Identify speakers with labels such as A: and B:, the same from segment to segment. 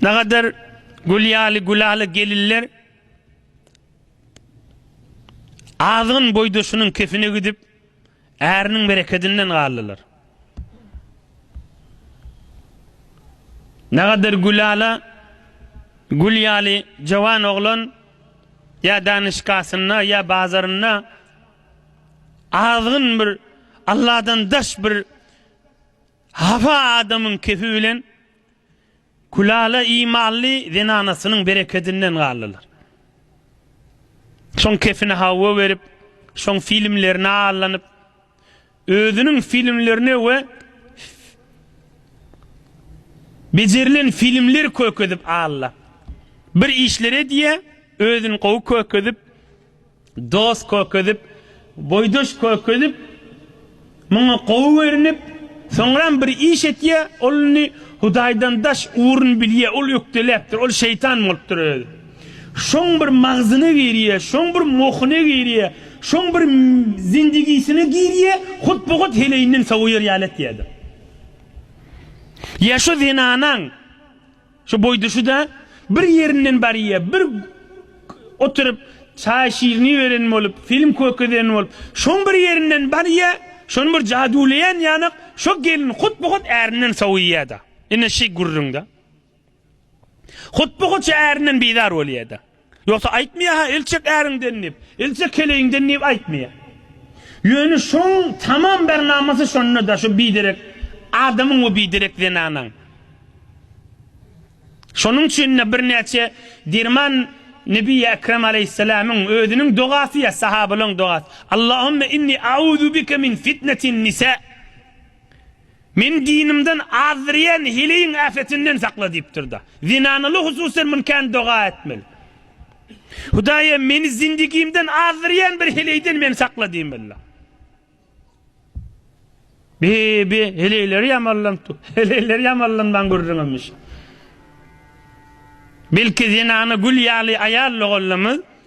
A: Nagadar gül ýaly Gülala gelinler azgyn boýdaşynyň kefine gidip, äriniň berekedinden galdylar. Nagadar Gülala gül ýaly jawan oglan ýa danyşkasynda, ýa bazarynda azgyn bir Alladan daş bir hafa adamyň kefi bilen Gülala imanly zenanasynyň berekedinden galdylar. Şoň kepine hawa berip, şoň filmlerine allanyp, özüniň filmlerine we bejerilen filmler kökezip alla. Bir işler edýä, özüni gowy kökezip, Dost kökezip, boýdaş kökezip, muňa gowy görnüp, soňram bir iş etýä, ol indi Hudaýdan daş ugruny bilýä, ol ökdeläpdir, ol şeýtan bolupdyr özi. Şoň bir magzyna girýä, şoň bir mohyna girýä, şoň bir zindigisine girýä, hut-bu-hut heleýinden sowaýar ýaly etýädir. Ýa şu zenanaň. Şu boýda şu-da bir ýerinden barýa, bir oturyp çaý şirini beren bolup, film kökezeren bolup, şoň bir ýerinden barýa, şony bir jaduwlaýan ýanak, şo gelin hut-bu-hut ärinden sowuýa-da. Ine şi gürrüň-dä. Hut-bu-hut şo ärinden bizar bolýa-da. Ýogsa aýtmaýa-ha el çek äriňden diýip, el çek keleýiňden diýip aýtmaýa. Ýöne şoň tamam bir namasy şonda-da, şu biderek adamyň we biderek zenanaň. Şonuň üçin-de birnäçe derman Nebi Ekrem aleýhissalamyň özüniň dogasy ýa sahabalaryň dogasy, Allahümme inni a'uzu bike min fitnetin nisa. Meni dinimden azdyrýan heleýiň äfetinden sakla diýipdir-de, zenanaly hususan muny kän doga etmeli. Hudaýa meni zindigimden azdyrýan bir heleýden meni sakla diýmeli. Bi-bi, heleýleri ýamanlan tu, heleýleri ýamanlanmaň gürrüň hemişe. Belki zenana gül ýaly aýal doganlarymyz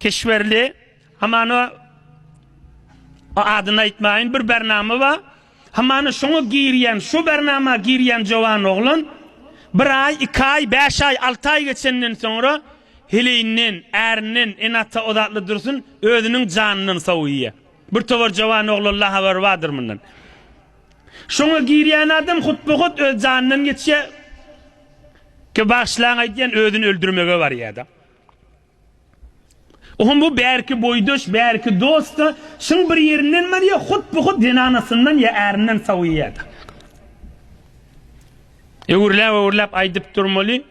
A: Keşberli hamana o adyny aýtmaýyn bir bernama bar. Hamana şoňa girýän, şo bernama girýän jowan oglan bir aý, iki aý, bäş aý, alty aý geçenden soňra heleýinden, ärinden, ene-ata ozatly dursun, özüniň janyndan sowýar. Bir towar jowan oglanla habary bardyr mundan. Şoňa girýän adam hutba-hut öz janyndan geçýär. Ke bagşylaň aýdýan özüni öldürmege barýar-da. Ohm bu bärki boýdaş, bärki dost-da, şuň bir ýerinden barýar, hut-bu-hut zenanasyndan ýa ärinden sowýar-da. Öwürläp-öwürläp aýdyp durmaly.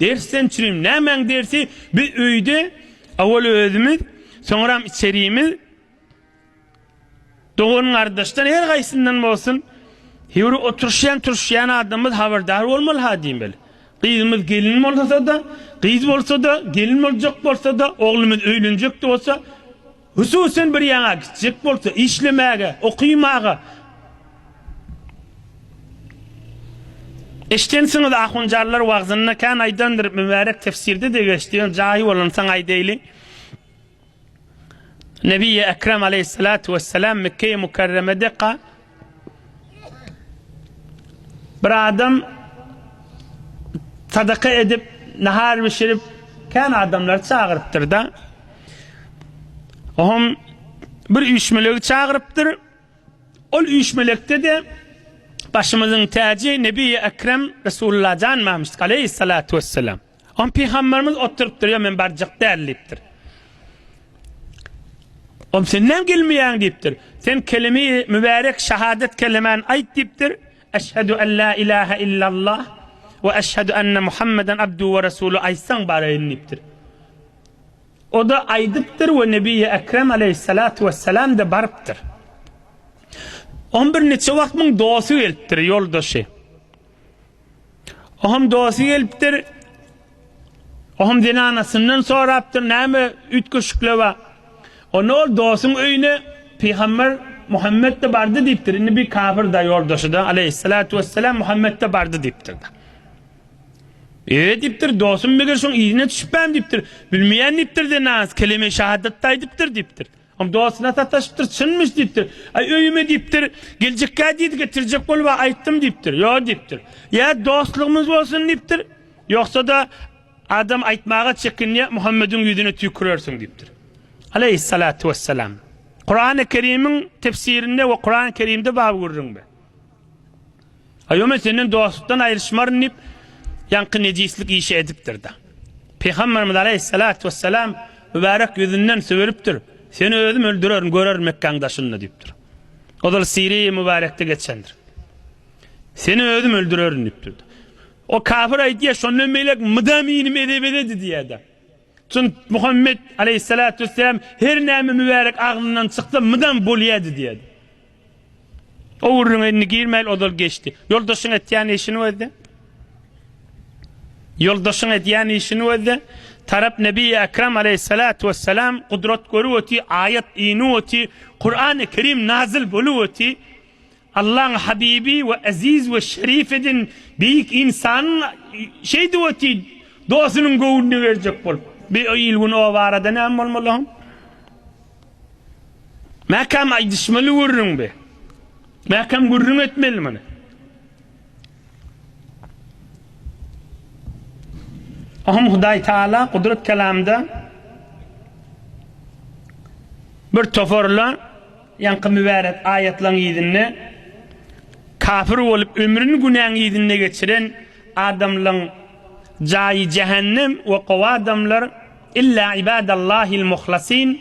A: Dersden çürim. Nämäň dersi? Biz öýde, owal özümiz, soňram içerimiz. Dogan-gardaşdan her gaýsyndan bolsun, hewri oturyşýan, turuşýan adamymyz habardar bolmaly-ha diýmeli. Gyzymyz gelin bolsa-da, gyz bolsa-da, gelin boljak bolsa-da, oglumyz öýlenjek-de bolsa, hususyn bir ýaňa gitjek bolsa, işlemäge, okymaga, Eşidensiňiz, ahunjanlar wagzynda kän aýdandyr, mübärek tefsirde-de geçdi, ýöne jaýy bolansoň aýdaýlyň. Nebi-i Ekrem Aleyhissalatu Vesselam Mekke-i Mukarremedeka bir adam sadaka edip, nahar bişirip, kän adamlary çagyrypdyr-da. Oňam bir üýşmelegi çagyrypdyr. Ol üýşmelekde-de başymyzyň täji Nebi-i Ekrem Resulullah Jan Mamşyk Aleyhissalatu Vesselam. Oň pygamberimiz oturypdyr, ýok men barjak däl diýipdir. Oň sen näme gelmeýäň diýipdir. Sen kelimi mübärek şahadet kelimäni aýt diýipdir. Eşhedü en la ilahe illallah we eşhedü enne Muhammeden abduhu we resulu aýtsaň baraýyn diýipdir. O-da aýdypdyr we Nebiýi Ekrem aleýhissalatu wessalam-da barypdyr. Oň birniçe wagt muň dosty gelipdir, ýoldaşy. Oňam dosty gelipdir. Oňam zenanasyndan sorapdyr, näme üýtgeşikler bar? Onda ol dostuň öýüne pygamber Muhammet-de bardy diýipdir. Indi bir kafir-da ýoldaşy-da, aleýhissalatu wessalam, Muhammet-de bardy diýipdir-de. Eýe diýipdir, dostum meger şoň yzyna düşüpem diýipdir. Bilmeýän diýipdir zenanasy, kelime-i şahadat-da aýdypdyr diýipdir. Oň dostuny sataşypdyr, çynmyş diýipdir. Aý, öýüme diýipdir, geljekkä diýdi, getirjek bolup-a aýtdym diýipdir. Ýok diýipdir. Ýa dostlugymyz bolsun diýipdir, ýogsa-da adam aýtmaga çekinýär, Muhammediň ýüzüne tüýkürersiň diýipdir. Aleýhissalatu wessalam. Kurany Kerimiň tefsirinde we Kurany Kerimde bar gürrüňde. Aýo men senden dostlukdan aýryşmaryn diýip, ýaňky nejislik işi edipdir-de. Pygamberimiz aleýhissalatu wessalam mübärek ýüzünden sübüripdir, Seni özüm öldürerin, görerin Mekgäň daşynda diýipdir. Ozal Siriýa mübärekde geçendir. Seni özüm öldürerin diýipdir. O kafir aýdýar, şondan beýläk mydam inim ede-bededi diýýär-de. Çün Muhammet aleýhissalatu wessalam her näme mübärek agzyndan çyksa mydam bolýardy diýýär. O gürrüňe indi girmäýil, ozal geçdi. Ýoldaşyň etýän işini gözle. Ýoldaşyň edýän işini gözle. Tarap Nebiýi Ekrem aleýhissalatu wessalam gudrat görüp öti, aýat inip öti, Kurany Kerim nazyl bolup öti. Allaň Habibi we Eziz we Şerif edin beýik insan şeýdip öti, dosunyň göwnüni berjek bolup. Bir il-gün o barada näme bolmaly? Mäkäm aýdyşmaly gürrüň be. Mäkäm gürrüň etmeli muny. Ahym Hudaý Taala Gudrat kelamda bir toparla ýaňky mübärek aýatlaryň yzynda kafir bolup ömrüni günäň yzynda geçiren adamlaryň jaýy jähennem we gowy adamlar Illa ibadallahil muhlasin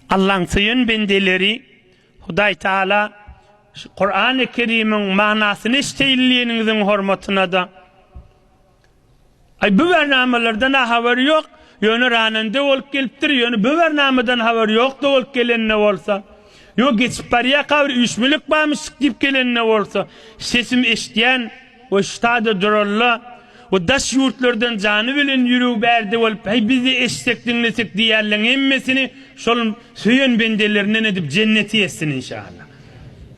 A: Allaň söýen bendeleri Hudaý Taala şu Kurany Kerimiň manasyny eşdeýin diýeniňiziň hormatyna-da Aý bu bernamalardan a habar ýok ýöne ranende bolup gelipdir ýöne bu bernamadan habar ýokda bolup gelende bolsa ýo geçip barýaka bir üýşmelik barmyşdyk diýip gelende bolsa sesim eşdýän we ştada duralla we daş ýurtlardan jany bilen ýüregi bärde bolup heý bizde eşitsek diňlesek diýýärleň hemmesini şol söýen bendelerinden edip jenneti etsin inşallah.